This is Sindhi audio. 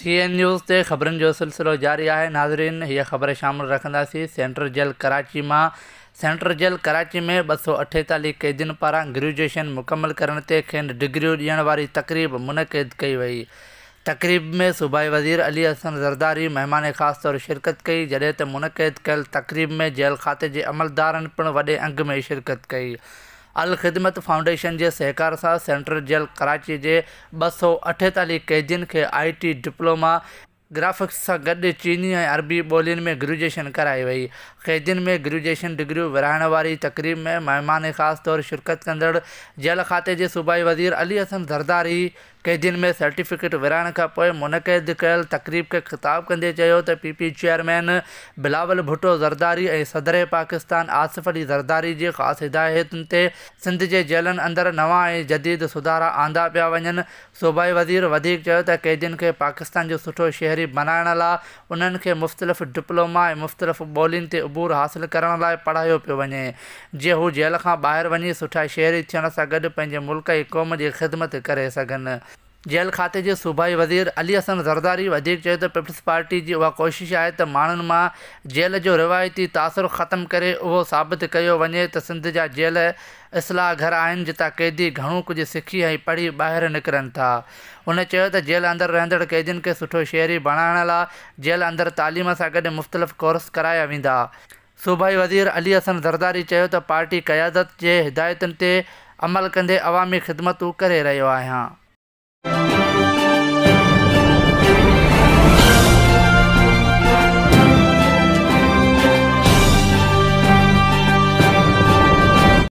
سي اين نيوز تي خبرن جو سلسلو جاري آهي ناظرين هيء خبر شامل رکنداسين سينٽرل جيل ڪراچي مان سينٽرل جيل ڪراچي ۾ ٻه سؤ اٺيتاليهه قيدين پاران گريجوئيشن مڪمل ڪرڻ تي کين ڊگريون ڏيڻ واري تقريب منعقد ڪئي وئي تقريب ۾ صوبائي وزير علي احسن زرداري مهمان خاص طور شرڪت ڪئي جڏهن ته منعقد ڪيل تقريب ۾ جيل کاتي جي عملدارن پڻ وڏي انگ ۾ شرڪت ڪئي الخدمت فائونڊيشن جي سهڪار سان سينٽرل جيل ڪراچي جي ٻه سؤ اٺيتاليهه قيدين کي آء ٽي ڊپلوما گرافڪس سان گڏ چيني ۽ عربي ٻولين ۾ گريجوئيشن ڪرائي وئي قيدين ۾ گريجوئيشن ڊگريون ورهائڻ واري تقريب ۾ مهمان خاص طور شرڪت ڪندڙ جيل کاتي جي صوبائي وزير علي احسن زرداري قيدين ۾ سرٽيفڪيٽ ورهائڻ کان پوء منعقد ڪيل تقريب کي خطاب ڪندي چيو ته P P chairman Bilawal Bhutto Zardari ۽ صدر پاڪستان آصف علي زرداري جي خاص هدايتن تي سنڌ جي جيلن اندر نوان ۽ جديد سڌارا آندا پيا وڃن صوبائي وزير وڌيڪ چيو ته قيدين کي پاڪستان جو سٺو شهري بنائڻ لا انهن کي مختلف ڊپلوما ۽ مختلف ٻولين تي عبور حاصل ڪرڻ لاء پڙهايو پيو وڃي، جيئن هو جيل کان ٻاهر وڃي سٺا شهري ٿيڻ سان گڏ پنهنجي ملڪ ۽ قوم جي خدمت ڪري سگهن. جيل کاتي جي صوبائي وزير علي حسن زرداري وڌيڪ چيو ته پيپلز پارٽي جي اها ڪوشش آهي ته ماڻهن مان جيل جو روايتي تاثر ختم ڪري اهو ثابت ڪيو وڃي ته سنڌ جا جيل اصلاح گهر آهن جتان قيدي گهڻو ڪجهه سکي ۽ پڙهي ٻاهر نڪرن ٿا. هن چيو ته جيل اندر رهندڙ قيدين کي سٺو شهري بڻائڻ لا جيل اندر تعليم سان گڏ مختلف ڪورس ڪرايا ويندا. صوبائي وزير علي حسن زرداري چيو ته پارٽي قيادت جي هدايتن تي عمل ڪندي عوامي خدمتون ڪري رهيو آهيان.